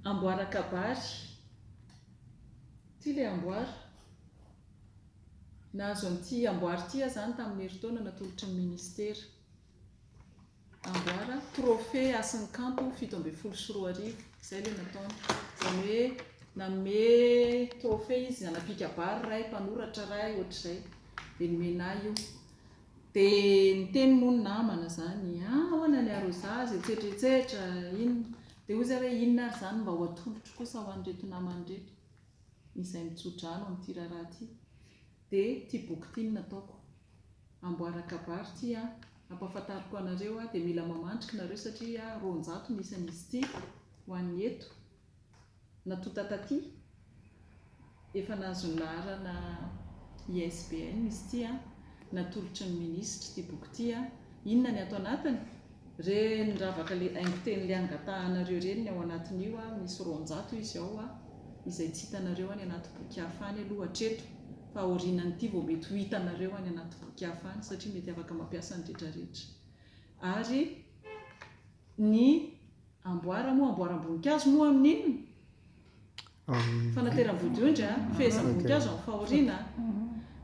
Amboara kabary. Ity ilay amboara. Nahazo an'ity amboara ity aho izany tamin'ny herintaona natolotry ny Ministera. Amboara, trophée Hasin'ny Kanto fito ambin'ny folo sy roa arivo. Izay ilay nataony. Izany hoe nanome trophée izy, anapikabary ray, mpanoratra ray, hoatr'izay. Dia nomena ahy io. Dia niteny moa ny namana izany, ah ahoana ny arrosage, etsetra etsetra, inona, dia hoy izahay hoe inona ary izany mba ho atolotro kosa ho an'ireto namana ireto izay mitso-drano amin'ity raharaha ity, dia ity boky ity no nataoko, amboara kabary ity an, ampahafantariko anareo an, dia mila mamandrika nareo satria roanjato ny isan'izy ity ho an'ny eto. Natonta taty, efa nahazo ny laharana ISBN izy ity an! Natolotry ny minisitra ity boky ity an! Inona ny ato anatiny? Ireny ravaka le haingon-teny le angatahanareo ireny ny ao anatin'io an! Misy roanjato izy ao an! Izay tsy hitanareo any anaty boky hafa any aloha hatreto fa aorianan'ity vao mety ho hitanareo any anaty boky hafa any satria mety afaka mampiasa ny retraretra ary ny Amboara moa, amboaram-boninkazo moa amin'ny inona? Amin'ny. Fanateram-bodiondry an, fehezam-boninkazo amin'ny fahoriana an.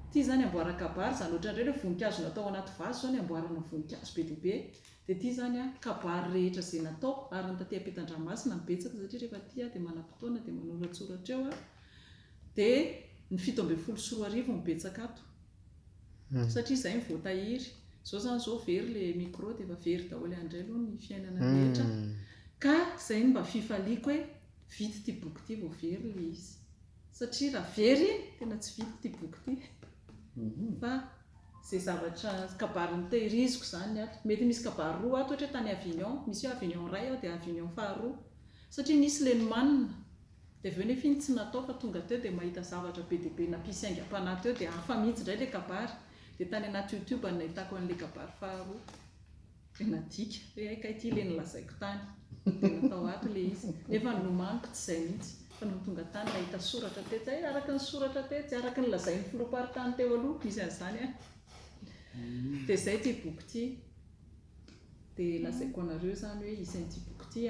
Ity izany amboaran-kabary izany, ohatran'ireny hoe voninkazo natao anaty vazo izao ny amboarana voninkazo be dia be. Dia ity izany an, kabary rehetra izay natao, ary ny taty am-pitan-dranomasina no betsaka satria rehefa aty an dia manam-potoana dia manoratsoratra eo an. Dia ny fito ambin'ny folo sy roa arivo no betsaka ato. satria zay no voatahiry, zao zany zao very le micro de efa very daholo any ndray aloha ny fiainana rehetra, ka zay no mba fifaliako hoe vita ity boky ity vao very le izy, satria raha very iny tena tsy vita ity boky ity, fa ze zavatra kabary notehiriziko zany ato, mety misy kabary roa ato ohatra hoe tany avignon, misy hoe avignon iray aho de avignon faharoa, satria nisy le nomanina Dia avy eo nefa iny tsy natao fa tonga teo dia mahita zavatra be dia be nampisy aingam-panahy teo dia hafa mihitsy indray ilay kabary. Dia tany anaty youtube no nahitako an'ilay kabary faharoa. Dia nadika hoe hay kay ity ilay nolazaiko tany. Dia natao ato ilay izy. Nefa ny nomaniko tsy izay mihitsy fa nony tonga tany nahita soratra tetsy hay araka ny soratra tetsy, araka ny lazain'ny filoham-paritany teo aloha misy an'izany an! Dia izay ity boky ity. Dia lazaiko anareo izany hoe izy an'ity boky ity an!